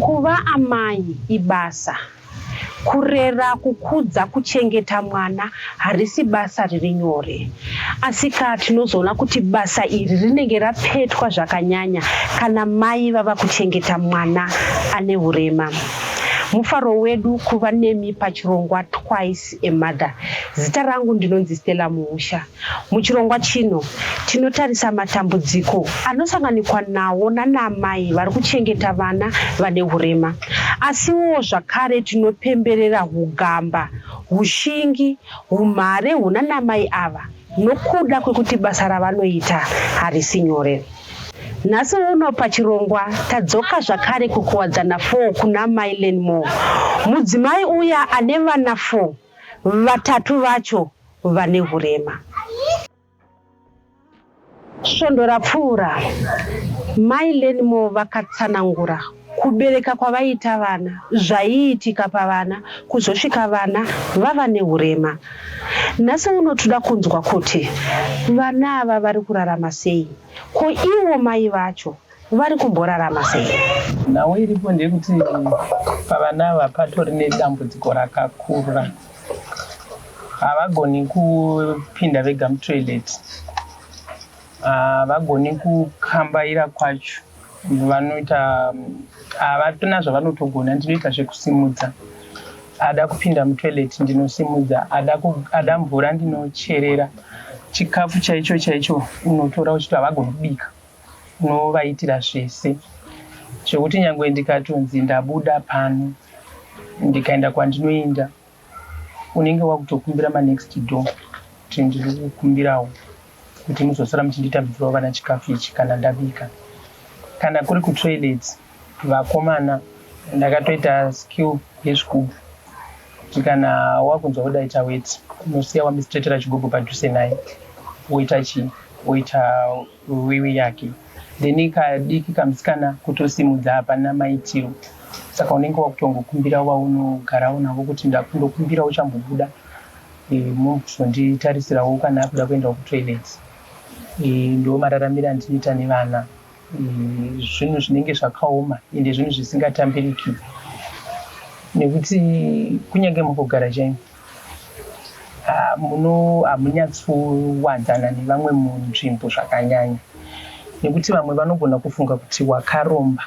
Kuva amai ibasa. Kurera, kukudza, kuchengeta mwana harisi basa riri nyore. Asika tinozoona kuti basa iri rinenge rapetwa zvakanyanya kana mai vava kuchengeta mwana ane hurema. Mufaro wedu kuva nemi pachirongwa Twice a Mother. Zita rangu ndinonzi Stella Muusha. Muchirongwa chino tinotarisa matambudziko anosanganikwa nawo nanaamai vari kuchengeta vana vane hurema. Asiwo zvakare tinopemberera hugamba, hushingi, humhare hunanamai ava nokuda kwekuti basa ravanoita harisi nyore. Nhasi uno pachirongwa tadzoka zvakare kuKuwadzana 4 kuna Mai Lenmore, mudzimai uya ane vana 4 Vatatu vacho vane hurema. Svondo rapfuura, Mai Lenmore vakatsanangura kubereka kwavaiita vana, zvaiitika pavana kuzosvika vana vava nehurema. Nhasi uno toda kunzwa kuti vana ava vari kurarama sei, ko ivo mai vacho vari kumborarama sei? Nhau iripo ndeyekuti pavana ava patori nedambudziko rakakura, havagoni kupinda vega mutoilet, havagoni kukambaira kwacho, vanoita havatona zvavanotogona, ndinoita zvekusimudza ada kupinda mutoilet ndinosimudza, ada mvura ndinocherera, chikafu chaicho chaicho unotora uchiti havagoni kubika. Unovaitira zvese zvekuti nyangwe ndikatonzi ndabuda pano ndikaenda kwandinoenda unenge wakutokumbira manext door kuti ndiri kukumbirawo kuti muzosara muchinditambidzirawo vana chikafu ichi kana ndabika. Kana kuri kutoilet vakomana ndakatoita skill yezvigubhu kuti kana wakunzwa kuda ita weti unosiya wamistretera chigubhu padhuze naye woita chii woita Wiwi yake then kadiki kamusikana kutosimudza hapana maitiro saka unenge wakutongokumbira vaunogarawo navo kuti ndakundokumbira uchambobuda e, muzonditarisirawo kana akuda kuenda kutoilet e, ndo mararamiro andinoita nevana e, zvinhu zvinenge zvakaoma ende zvinhu zvisingatambiriki nekuti kunyange mukugara chaimo Ah, muno hamunyatsowanzana nevamwe munzvimbo zvakanyanya nekuti vamwe vanogona kufunga kuti wakaromba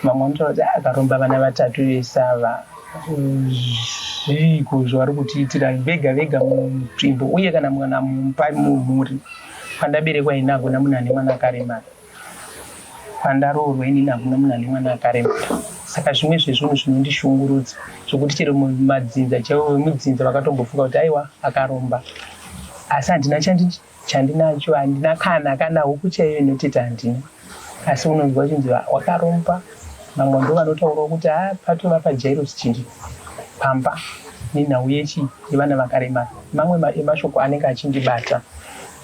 vamwe vanotaura kuti "Ah, akaromba vana vatatu vese ava zviiko zvavari kutiitira vega vega munzvimbo uye kana mwana mupa mumhuri pandaberekwa ini hakuna munhu ane mwana akaremara Pandaroorwa inini hakuna munhu ane mwana akaremara saka zvimwe zvezvinhu zvinondishungurudza zvokuti chero madzinza chaivo vemudzinza vakatombofunga kuti aiwa akaromba asi handina chandinacho handina kana kana huku chaiyo inoteta handina asi unonzwa chinzi wakaromba vamwe ndo vanotaurawo kuti ha ah, patova pajairos chiri pamba nenhau yechi yevana vakaremara mamwe emashoko anenge achindibata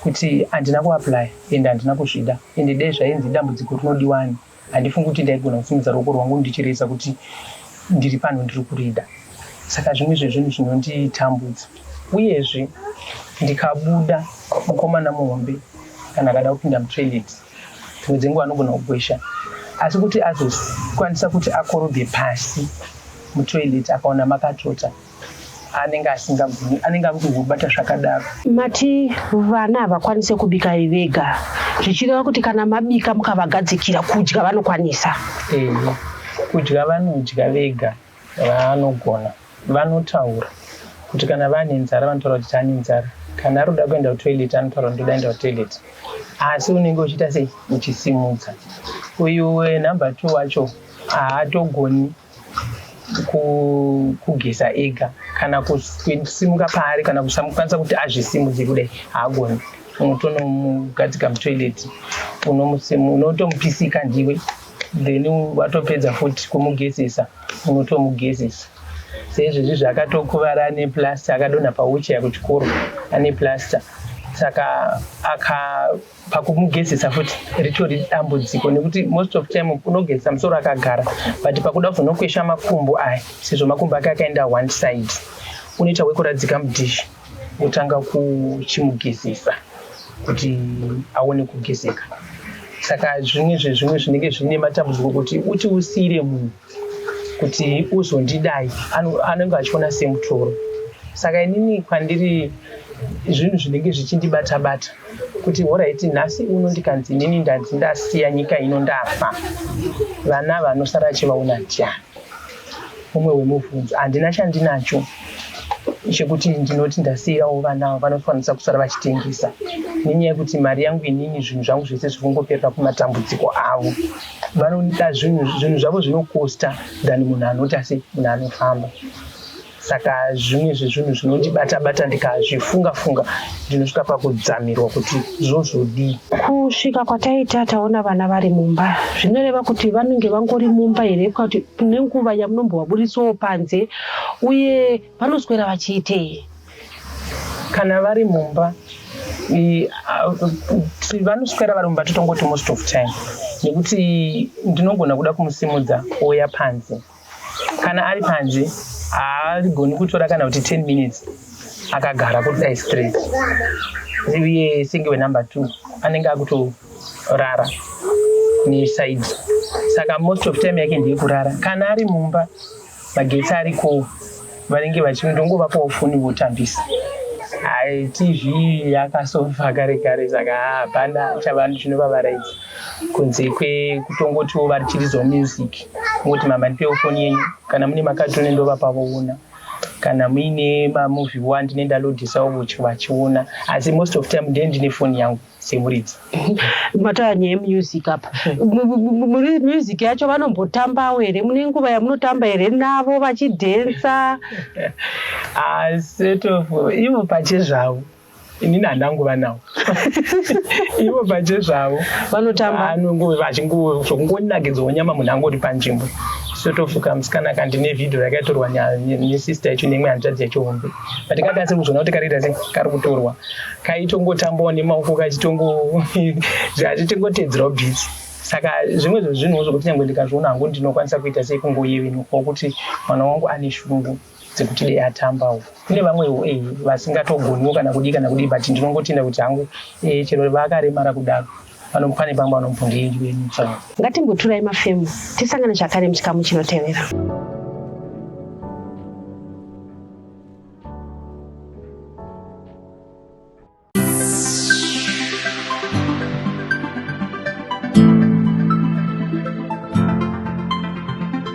kuti handina kuaplya ende handina kuzvida ende dai zvainzi idambudziko rinodiwa ani handifungi kuti ndaigona kusimudza ruoko rwangu ndichireza kuti ndiri pano ndiri kurida saka zvimwe zvezvinhu zvinonditambudza uyezve ndikabuda mukomana muhombe kana akada kupinda mutoilet dzimwe dzenguva anogona kugwesha asi kuti azokwanisa kuti akorobhe pasi mutoilet akaona makatota anenge asingagoni anenge ari kuzobata zvakadaro mati vana havakwanise kubika vega zvichireva kuti kana mabika mukavagadzikira kudya vanokwanisa e, kudya vanodya vega vanogona vanotaura kuti kana vane nzara vanotaura kuti tane nzara kana ari kuda kuenda kutoilet anotaura ndoda enda kutoilet asi unenge uchiita sei uchisimudza uyu number two wacho haatogoni kugeza ega kana kusimuka paari kana kusamukwanisa kuti azvisimudze kudai haagoni unotonomugadzika mutoilet unotomupisika ndiwe then watopedza futi kumugezesa unotomugezesa seizvezvi zvaakatokuvara ane plaster akadonha pauchaya kuchikoro ane plaster saka aka pakumugezesa futi ritori dambudziko nekuti most of time unogezesa musoro akagara but pakuda kuzonokwesha makumbo aya sezvo makumbo ake akaenda one side unoita wekuradzika mudhishi wotanga kuchimugezesa kuti aone kugezeka saka zvimwe zvezvimwe zvinenge zvine matambudziko kuti uti usiire munhu kuti uzondidai anenge achiona semutoro saka inini kwandiri zvinhu zvinenge zvichindibata bata kuti horaiti nhasi uno ndikanzi inini ndanzi ndasiya nyika ino ndafa vana vanosara achivaona ndyani umwe wemubvunzo handina chandinacho chekuti ndinoti ndasiirawo vana avo vanokwanisa kusara vachitengesa nenyaya yekuti mari yangu inini zvinhu zvangu zvese zvikungoperera kumatambudziko avo vanoda zvinhu zvinhu zvavo zvinokosta than munhu anoti asi munhu anofamba saka zvimwe zvezvinhu zvinondibata bata ndikazvifunga funga ndinosvika pakudzamirwa kuti zvozvodii kusvika kwataita taona vana vari mumba zvinoreva kuti vanenge vangori mumba here kuti nenguva yamunombovaburitsawo panze uye vanoswera vachiitei kana vari mumba vanoswera vari mumba totongoti most of time nekuti ndinogona kuda kumusimudza ouya panze kana ari panze haagoni kutora kana kuti 10 minutes akagara kuti dai straight uye senge wenumber two anenge akutorara nesaidi saka most of time yake ndiye kurara kana ari mumba magetsi ariko vanenge vachindongovapawo foni votambisa hai tv yakasofa kare kare saka hapana chavanhu chinovavaraidza kunze kwekutongotiwo vari chirizo music moti mama ndipewo foni yenyu kana mune makatone ndovapavoona kana muine mamovie wa ndine ndalodhisawo vachiona asi most of time ndee ndine foni yangu semuridzi mataya nyaya yemusic apa music yacho vanombotambawo here mune nguva yamunotamba here navo vachidhensa asetofu ah, ivo pache zvavo inini handangova nawo ivo pache zvavo vanotamba zvokungondinakidzawo nyama munhu angori panzvimbo sotofuka musikana kandine vhidhio rakaitorwa nesister yacho nemwe hanzvadzi yacho hombe Patikati asi kuzvona kuti kariita sei kari kutorwa kaitongotambawo nemaoko kachitongo zvachitingotedzerawo bhitsi saka zvimwe zvezvinhuwo zvokuti nyange ndikazviona hangu ndinokwanisa kuita sei kungoyevenuka kuti mwana wangu ane shungu dzekuti dei atambawo kune vamwewo e eh, vasingatogoniwo kana kudii kana kudii but ndinongotenda kuti hangu e chero vakaremara kudaro Vanompane pamba vanompondei ndiveni chavo. Ngatimboturai mafemo tisangane zvakare muchikamu chinotevera.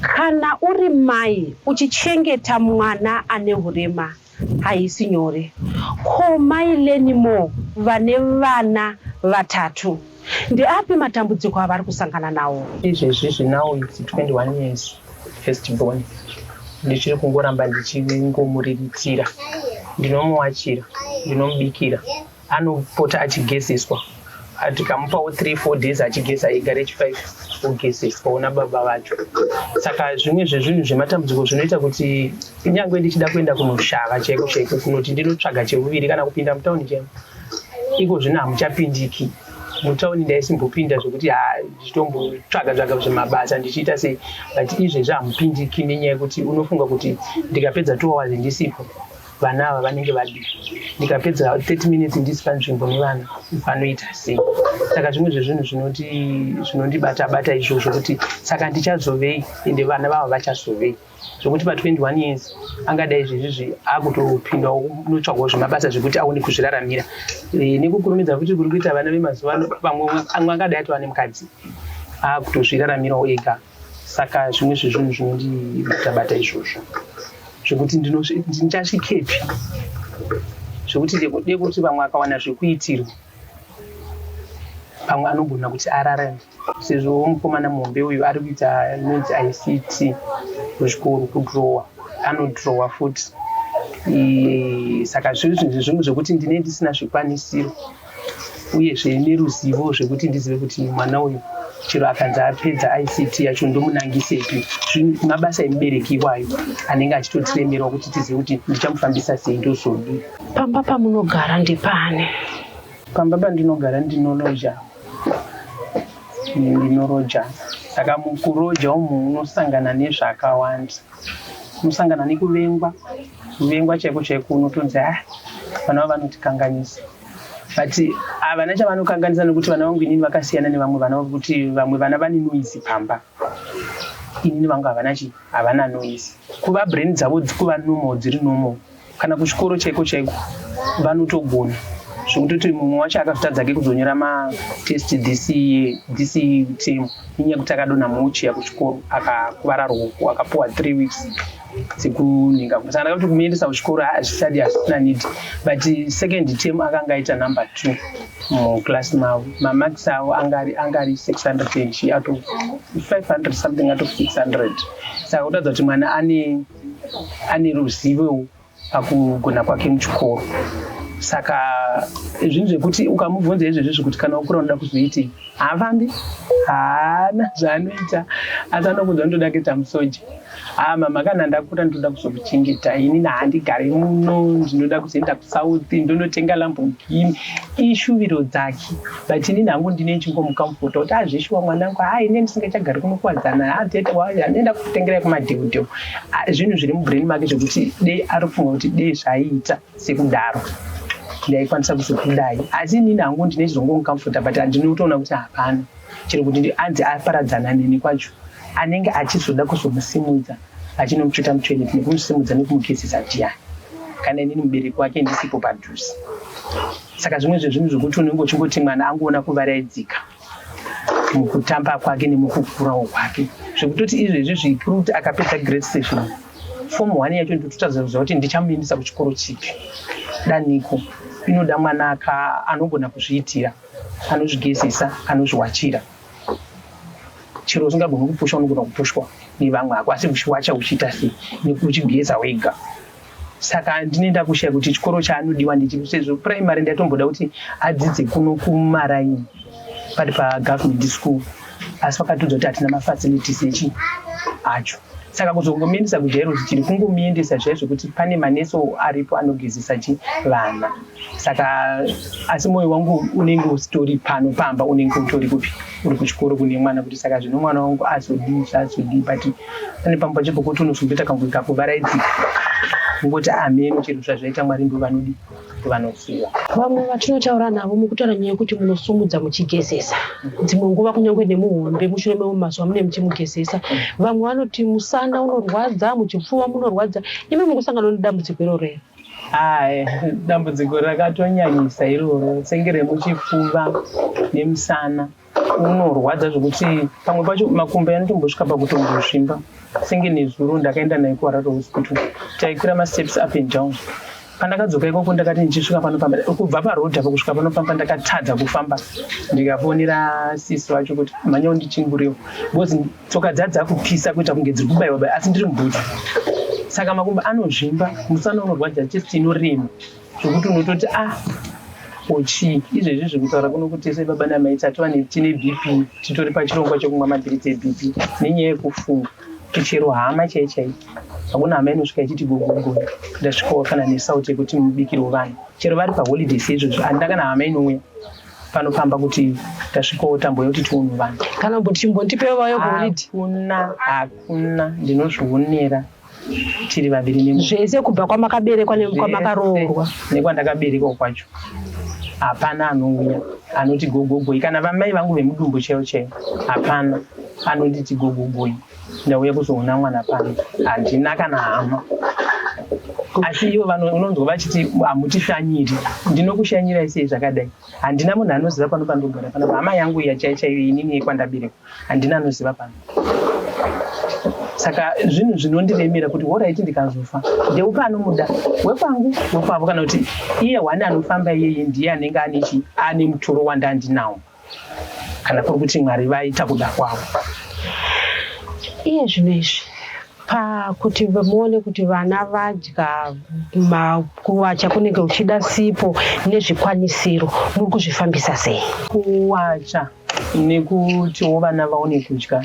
kana uri mai uchichengeta mwana ane hurema haisi nyore ko mai lenimo vane vana vatatu Ndeapi matambudziko avari kusangana nawo? Izvezvizvi now it's 21 years first born ndichiri kungoramba ndichingomuriritira ndinomuwachira ndinomubikira anopota achigezeswa tikamupawo 3 4 days achigeza ega rechi5 ogezeswa ona baba vacho saka zvimwe zvezvinhu zvematambudziko zvinoita kuti kunyange ndichida kuenda kunoshava chaiko chaiko kunoti ndinotsvaga cheuviri kana kupinda mutauni chaimo Ikozvino hamuchapindiki mutauni ndaisimbopinda zvekuti ha ndichitombotsvaga tsvaga zvemabasa ndichiita sei but izvezvi hamupindiki nenyaya yekuti unofunga kuti ndikapedza two hours ndisipo vana ava vanenge vadi ndikapedza 30 minutes ndisi panzvimbo nevana vanoita sei saka zvimwe zvezvinhu zvinondibata bata izvozvo kuti saka ndichazovei ende vana vava vachazovei zvokuti pa 21 years angadai zvezvizvi akutopindawo notsvagwa zvemabasa zvekuti aone kuzviraramira eh, nekukurumidza kuti kuri kuita vana vemazuva ano pamwe amwe angadai atova nemukadzi akutozviraramirawo ega saka zvimwe zvezvinhu zvinondibatabata izvozvo zvekuti ndichasvikepi zvekuti dekuti vamwe akawana zvekuitirwa pamwe anogona kuti ararame sezvo mukomana muhombe uyu ari kuita nonzi ict kuzvikoro kudrowa anodrowa futi saka zviri zvinhu zvimwe zvekuti ndine ndisina zvikwanisiro uyezve neruzivo zvekuti ndizive kuti mwana uyu chero akanzi apedza ict yacho ndomunangisepi mabasa emubereki iwayo anenge achitotiremerwa kuti tizive kuti ndichamufambisa sei ndozodii pamba pamunogara ndepane pamba pandinogara ndinoloja ndinoroja saka mukuroja umu unosangana nezvakawanda unosangana nekuvengwa kuvengwa chaiko chaiko unotonzi ha ah, vana va vanotikanganisa but havana ah, chavanokanganisa nekuti vana vangu inini vakasiyana nevamwe vana vekuti vamwe vana vane noise pamba inini vangu havana chii havana noise kuva brain dzavo dzikuva normal dziri normal kana kuchikoro chaiko chaiko vanotogona zvekutoti mumwe wacho akazotadzake kuzonyora matest this this term inyaya yekuti akadonha mochiya kuchikoro akakuvara ruoko akapuwa three weeks dzekunhinga saka ndakati kumuendesa kuchikoro hazvisati hazvisina need but second term akanga aita number two muclass mavo mamax avo angari angari six hundred and out of five hundred something out of six hundred saka kutadza kuti mwana ane ane ruzivo pakugona kwake muchikoro saka zvinhu zvekuti ukamubvunza izvezvi zvekuti kana ukura unoda kuzoitei haafambi haana zvaanoita asi anokunza unotoda kuita musoja haa mama kana ndakura ndinoda kuzokuchengeta ini nahandigare muno ndinoda kuzoenda kusouth ndonotenga lambogini ishuviro dzake but inini hangu ndine nchingomukamufota kuti azvishuwa mwanangu haa ine ndisingachagari kunokuwadzana haa tete wayo anoenda kutengerai kumadheudheu zvinhu zviri mubrain make zvekuti dei ari kufunga kuti dei zvaiita sekudaro ndaikwanisa kuzokudai asi inini hangu ndine chizongomukamufota but andinotoona kuti hapana chero kuti anzi aparadzana neni kwacho anenge achizoda kuzomusimudza achinomutsveta mutoilet nekumusimudza nekumugezesa ndiani kana inini mubereki wake ndisipo padhuze saka zvimwe zvezvinhu zvokuti unenge uchingoti mwana angoona kuvaraidzika mukutamba kwake nemukukurawo kwake zvekutoti izvezvi zvikuru kuti akapedza great station fom one yacho ndototazauza kuti ndichamuendesa kuchikoro chipi daniko inoda mwana ka anogona kuzviitira anozvigezesa anozviwachira chero usingagoni kupusha unogona kupushwa nevamwe hako asi wacha uchiita sei nekuti uchigeza wega saka handine ndakushaya kuti chikoro chaanodiwa ndichipi sezvo primary ndaitomboda kuti adzidze kuno kumaraini pari pagovernment school asi vakatodza kuti hatina mafacilities echi acho saka kuzongomuendesa kujairo tiri kungomuendesa zviya zvekuti pane maneso aripo anogezesa chi vana saka asi mwoyo wangu unenge usitori pano pamba unenge utori kupi uri kuchikoro kune mwana kuti saka zvino mwana wangu azodii zvaazodii but pane pamwe pacho pokuti unozomboita kangu kakuvaraidzika ungoti ameno chero zvazvaita mwari ndo vanodii kuti vanoziva vamwe vatinotaura navo mukutaura nyaya yekuti munosumudza muchigezesa dzimwe nguva kunyange nemuhombe mushure memwe mazuva mune muchimugezesa vamwe vanoti musana unorwadza muchipfuva munorwadza imi mukusangana nedambudziko iroro here hai dambudziko rakatonyanyisa iroro senge remuchipfuva nemusana unorwadza zvekuti pamwe pacho makumbo yanotombosvika pakutombozvimba senge nezuro ndakaenda nayo kuharare hospital taikwira masteps up and down pandakadzoka ikoko ndakati ndichisvika panofamba kubva parodha pakusvika panofamba ndakatadza kufamba ndikafonera sisi vacho kuti mhanya undichinguriwo because tsoka dza dzakupisa kuita kunge dziri kubaiwa bai asi ndiri mubhudzi saka makumbo anozvimba musana unorwadza chest inorema zvokuti unototi a ah, kochii izvezvi zviri kutaura kuno kuti tese baba namai tati vane tine bp titori pachirongwa chekumwa mabhiritsi ebp nenyaya yekufunga tichero hama chai chai hakuna hama inosvika ichiti gogogo ndasvikawo kana nesauti yekuti mubikirwo vanhu chero vari paholiday seizvozvo handina kana hama inouya panofamba kuti tasvikawo tambo yekuti tiunhu vanhu kana kuti chimbondipevayo kuholiday hakuna hakuna ndinozvionera tiri vaviri ne zvese kubva kwamakaberekwa nekwamakaroorwa nekwandakaberekwa kwacho hapana anouya anoti gogogoi kana vamai vangu vemudumbu chaivo chaivo hapana anonditi gogogoi ndauya kuzoona mwana pano handina kana hama asi ivo unonzwa vachiti hamutishanyiri ndinokushanyirai sei zvakadai handina munhu anoziva pano pandogara pana hama yangu iya chai chaiyo inini yekwandaberekwa handina anoziva pano saka zvinhu zvinondiremera kuti horaiti ndikazofa ndeupa anomuda wekwangu wekwavo kana kuti iye hwani anofamba iyeye ndiye anenge ane chi ane mutoro wandandinawo kana kuri kuti mwari vaita kuda kwavo iye zvinhu izvi pakuti muone kuti vana vadya makuwacha kunenge uchida sipo nezvikwanisiro muri kuzvifambisa sei kuwacha nekutiwo vana vaone kudya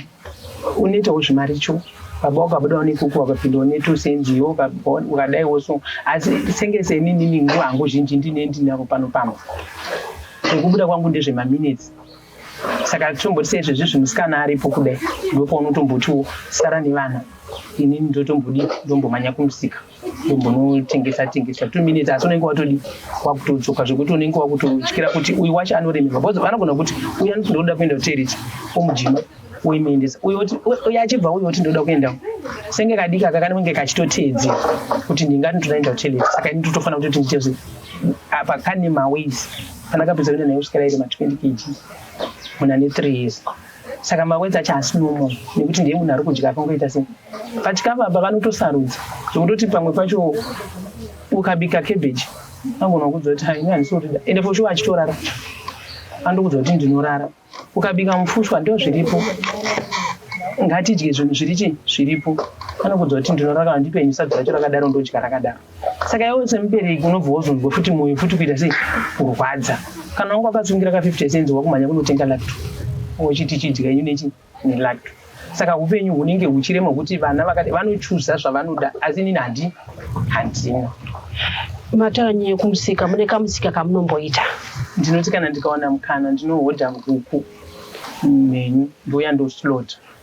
unoitawo zvimaricho baba wakabuda unekuku wakapinda unetu senziyo ukadaiwo so asi senge seninini nguva hangu zhinji ndine ndinavo pano pamwe zvekubuda kwangu ndezvemaminutes saka tomboti seizvezvi zvimusikana aripo kudai ndopaunotombotiwo sara nevana inini ndotombodi ndombomhanya kumusika umbonotengesa tengesa two minutes asi unenge watodi wakutodzoka zvekuti unenge wakutotyira kuti uyu wacho anoremerwa because vanogona kuti uyu anoti ndoda kuenda kuteriti omujima uimuendesa uyo oti uyo achibva uyo oti ndoda kuenda senge kadiki aka kanenge kachitoteedzera kuti ndingati ndodaenda kuteriti saka ini totofanira kuti kuti nditezve apa kane maways kana kapedza kuenda naye kusvika rairi ma20 kg muna ne three years saka mawedza chasi nomo nekuti ndiye munhu ari kudya akangoita sei but ka baba vanotosarudza zvekutoti pamwe pacho ukabika cabbage angona kudza kuti haini handisorida ende for sure achitorara andokudza kuti ndinorara ukabika mufushwa ndo zviripo ngatidye zvinhu zviri chii zviripo anokudza kuti ndinorara ndipe nyusadzi racho rakadaro ndodya rakadaro saka iwe semubereki unobva wozonzwa futi mwoyo futi kuita sei kurwadza kana wanga wakasungira ka 50 cents wakumhanya kunotenga lacto wechiti chidya inyu nechi nelacto saka upenyu hunenge huchirema kuti vana vakati vanochuza zvavanoda asi inini handi handina mataura nyaya yekumusika mune kamusika kamunomboita ndinoti kana ndikawana mukana ndinohodha nguku mhenyu ndouya ndoslota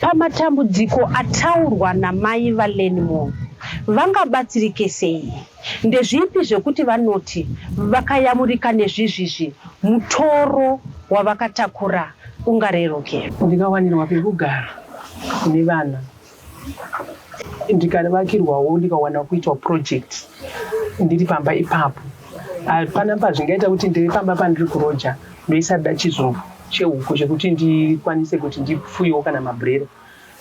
Pamatambudziko ataurwa naMai vaLenmore, vangabatsirike sei? Ndezvipi zvekuti vanoti vakayamurika nezvizvizvi mutoro wavakatakura ungareruke? Ndikawanirwa pekugara nevana, ndikavakirwawo, ndikawana kuitwa project ndiri pamba ipapo. hapana pazvingaita kuti ndiri pamba pandiri kuroja ndoisada chizumbu chehuku chekuti ndikwanise kuti ndifuyewo kana mabhurera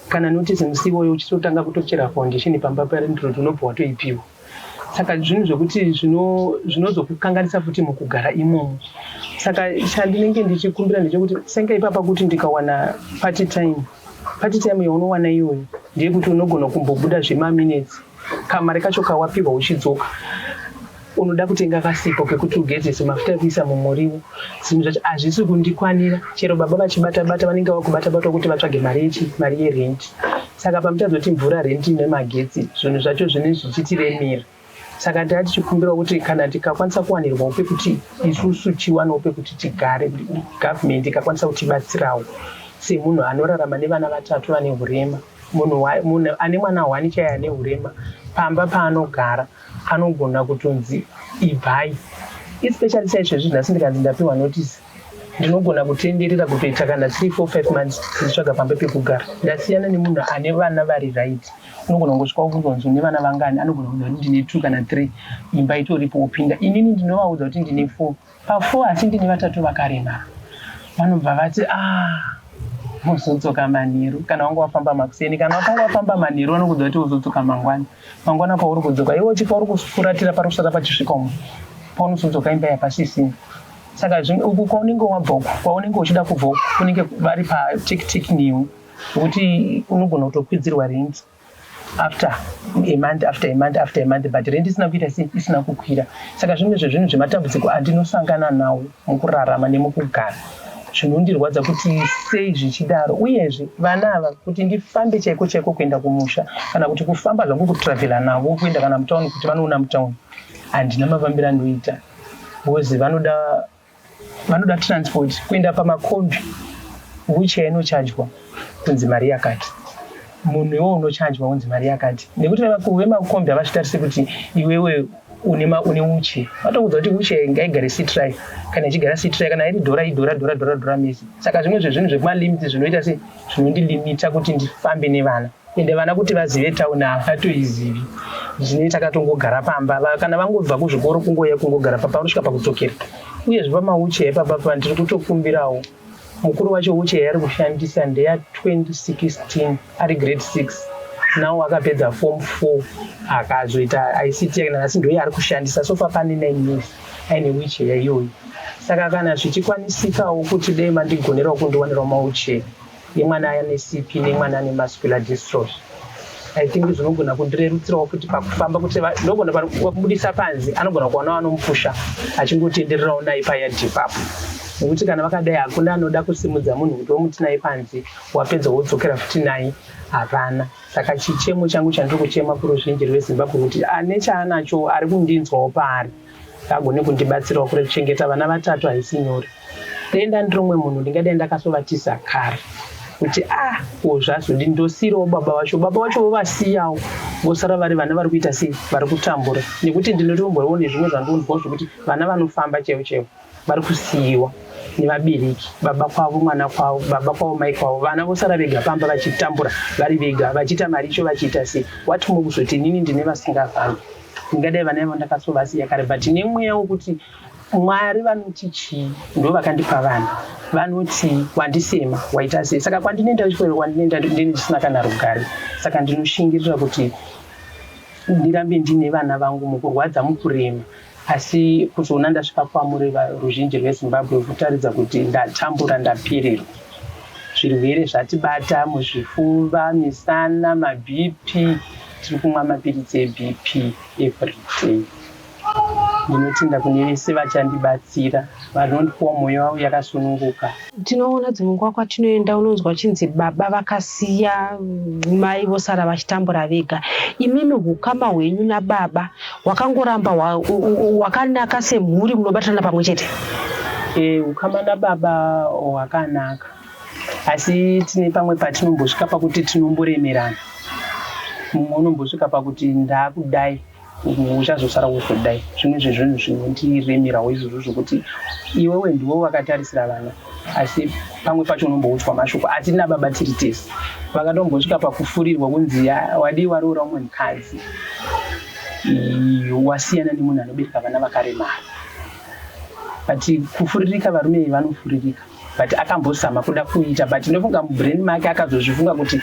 kana notice musi iwoyo uchitotanga kutochera foundation pamba parindiro tinobva watoipiwa saka zvinhu zvekuti zvinozokukanganisa futi mukugara imomo saka chandinenge ndichikumbira ndechekuti senge ipapa kuti ndikawana party time party time yaunowana iyoyo ndeyekuti unogona kumbobuda zvemaminutes Kamari kacho kawapihwa uchidzoka unoda kutenga kasipo kekuti ugezese mafuta ekuisa mumuriwo zvinhu zvacho hazvisi kundikwanira chero baba vachibata bata vanenge vakubata bata kuti vatsvage mari yechi mari yerenti saka pamutadza kuti mvura renti nemagetsi zvinhu zvacho zvine zvichitiremera saka taa tichikumbira kuti kana tikakwanisa kuwanirwa upe kuti isusu tiwane upe kuti tigare gavhumendi ikakwanisa kutibatsirawo semunhu anorarama nevana vatatu vane urema Munhu ane mwana hwani chaiye ane hurema pamba paanogara anogona kutonzi ibvai especially chaizvezvi nhasi ndikanzi ndapiwa notice ndinogona kutenderera kutoita kana three four five months ndichitsvaga pamba pekugara ndasiyana nemunhu ane vana vari right unogona kungosvika kuzonzi une vana vangani anogona kuza kuti ndine two kana three imba itoripo wopinda inini ndinovaudza kuti ndine four Pafour asi ndini vatatu vakaremara. Vanobva vati aah mozodzoka manheru kana wanga wafamba makuseni kana wakanga wafamba manheru vanokuudza kuti uzodzoka mangwana mangwana pauri kudzoka iwe uchifa uri kufuratira pari kusvika pachisvika umo paunozodzoka imba yapasisina saka uku kwaunenge wabva uku kwaunenge uchida kubva uku kunenge vari patiktik new kuti unogona kutokwidzirwa renti after a month after a month after a month but rendi isina kuita sei isina kukwira saka zvimwe zvezvinhu zvematambudziko andinosangana nawo mukurarama nemukugara zvinondirwadza kuti sei zvichidaro uyezve vana ava kuti ndifambe chaiko chaiko kuenda kumusha kana kuti kufamba zvangu kutravhela navo kuenda kana mutauni kuti vanoona mutauni handina mafambiro andoita bcause vanoda vanoda transport kuenda pamakombi wicha inochajwa kunzi mari yakati munhu iwe unochajwa unzi mari yakati nekuti vemakombi havazvitarise kuti iwewe une uche vatoudza kuti uche ngaigare citri kana ichigara citri kana iri dhora idhora dhora dhora dhora mese saka zvimwe zvezvinhu zvekumalimiti zvinoita se zvinondilimita kuti ndifambe nevana ende vana kuti vazive tauni havatoizivi zvine takatongogara pamba kana vangobva kuzvikoro kungoya kungogara papa vanosvika pakudzokera uyezve pamaucheya ipapa pa ndiri kutokumbirawo mukuru wacho ucheya ari kushandisa ndeya 2016 ari grade 6 nawo akapedza form 4 akazoita ict yake nanhasi ndoye ari kushandisa sofa pane 9 years aine wicheya iyoyi saka kana zvichikwanisikawo kuti dei mandigonerawo kundiwanirawo maucheya yemwana ane CP nemwana ane muscular dystrophy. I think zvinogona kundirerutsirawo futi pakufamba kuti ndogona pakubudisa panze anogona kuwana wanomupusha achingotendererawo naye paya depapo nekuti kana vakadai hakuna anoda kusimudza munhu kuti womuti naye panze wapedza wodzokera futi naye havana saka chichemo changu chandiri kuchema kuruzhinji rwezimbabwe kuti ane chaanacho ari kundinzwawo paari agone kundibatsirawo kure kuchengeta vana vatatu haisi nyore ndaenda ndiri umwe munhu ndingadai ndakasovatisa kare kuti a ah, wozvazodi ndosiirawo baba vacho baba vacho vovasiyawo vosara vari vana vari kuita sei vari kutambura nekuti ndinotomboriwo nezvimwe zvandonzwawo zvekuti vana vanofamba chaivo chaivo vari kusiyiwa nevabereki baba kwavo mwana kwavo baba kwavo mai kwavo vana vosara vega pamba vachitambura vari vega vachiita mari icho vachiita sei what more kuzoti inini ndine vasingafambi ndingadai vana ivo ndakasovasiya kare but nemweya wokuti mwari vanoti chii ndo vakandipa vana vanoti wandisema waita sei saka kwandinoenda chikoro kwandinoenda ndine ndisina kana rugare saka ndinoshingirira kuti ndirambe ndine vana vangu mukurwadza mukurema Asi kuzoona ndasvika kwamuri ruzhinji rwezimbabwe kutaridza kuti ndatambura ndapirirwa zvirwere zvatibata muzvifuva misana mabp tiri kumwa mapiritsi ebp everyday ndinotenda kune vese vachandibatsira vanondiwa mwoyo wavo yakasununguka Tinoona dzimwe nguva kwatinoenda unonzwa chinzi baba vakasiya mai vosara vachitambura vega. Imimi hukama hwenyu nababa hwakangoramba hwakanaka semhuri munobatana pamwe chete? E, hukama nababa hwakanaka asi tine pamwe patinombosvika pakuti tinomboremerana. Mumwe unombosvika pakuti ndakudai uchazosara wozodai zvimwe zvezvinhu zvinondiremerawo izvozvo zvokuti iwewe ndiwe wakatarisira vana asi pamwe pacho unomboudzwa mashoko asi tina baba tiri tese vakatombosvika pakufurirwa kunzi wadii waroora umwe mukadzi wasiyana nemunhu anobereka vana vakaremara but kufuririka varume iyi vanofuririka but akambozama kuda kuita but ndofunga mubrain make akazozvifunga kuti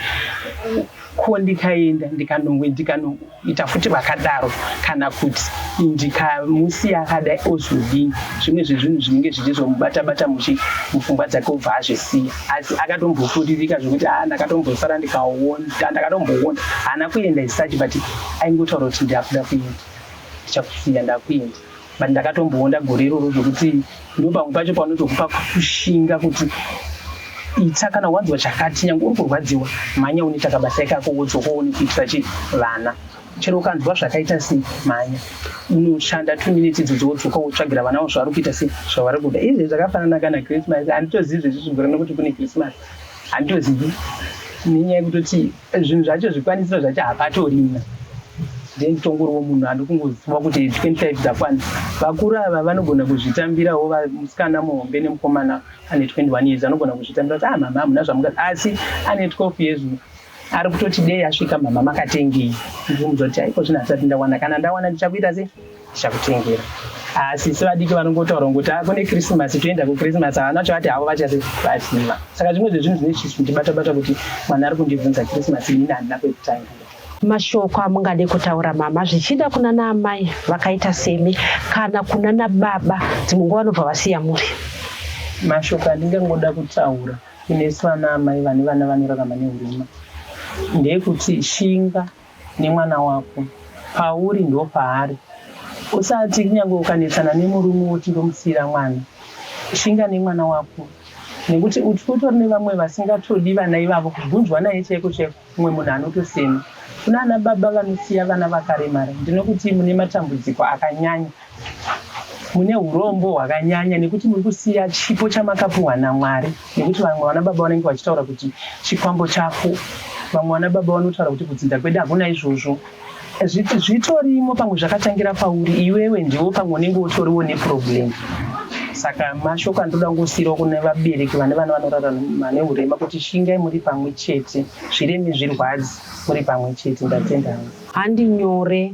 ko ndikaenda ndikanongwe ndikanongwe ita futi vakadaro kana kuti ndikamusiya akadai ozodii zvimwe zvezvinhu zvinenge zvichizomubata bata muchi mupfungwa dzake obva azvisiya asi akatombofuririka zvekuti haa ah, ndakatombosara ndikaonda ndakatomboonda haana kuenda isachi but aingotaura kuti ndakuda kuenda ndichakusiya ndakuenda but ndakatomboonda gore iroro zvekuti ndo pamwe pacho paunotokupa kushinga kuti ita kana wanzwa chakati nyange uri kurwadziwa mhanya unoita kabasa ikako wodzoka uone kuitira chi vana chero ukanzwa zvakaita sei mhanya unoshanda two minutes idzodzi wodzoka wotsvagira vana wo zvavari kuita sei zvavari kuda izvi zvakafanana kana christmas handitozivi zvezvizvigorana kuti kune christmas handitozivi nenyaya yekutoti zvinhu zvacho zvikwanisiro zvacho hapatorina then tongoriwo munhu andokungoziva kuti 25 dzakwana vakuru ava vanogona kuzvitambirawo musikana muhombe nemukomana ane 21 years anogona kuzvitambira kuti ah mama hamuna zvamuka asi ane 12 years ari kutoti dei asvika mama makatengei ndikumbudza kuti haiko zvinhu hasati ndawana kana ndawana ndichakuita sei chakutengera asi sevadiki vanongotaura ngokuti ah, kune krisimasi toenda kukrisimasi havana chavati havo vachaziva saka zvimwe zvezvinhu zvine zvindibatabata kuti mwana ari kundibvunza krisimasi ini handina kwekutanga mashoko amungade kutaura mama zvichida kuna naamai vakaita semi kana kuna nababa dzimwe nguva vanobva vasiya muri mashoko andingangoda kutaura kunesu vana amai vane vana vanorarama neurima ndeyekuti shinga nemwana wako pauri ndopaari usati kunyangwe ukanetsana nemurume woti ndomusiira mwana shinga nemwana wako nekuti uti kutori nevamwe vasingatodi vana ivavo kubvunzwa naye chaiko chaiko umwe munhu anotosema kuna ana baba vanosiya vana vakaremara ndinokuti mune matambudziko akanyanya mune urombo hwakanyanya nekuti muri kusiya chipo chamakapuhwa namwari nekuti vamwe vana baba vanenge vachitaura kuti chikwambo chako vamwe vana baba vanotaura kuti kudzinza kwedu hakuna izvozvo zviti zvitorimo pamwe zvakatangira pauri iwewe ndiwo pamwe unenge utoriwo neproblem saka mashoko andoda kungosiirawo kune vabereki vane vana vanorara vane urema kuti shingai muri pamwe chete zvireme zvirwadzi muri pamwe chete ndatenda hangu handi nyore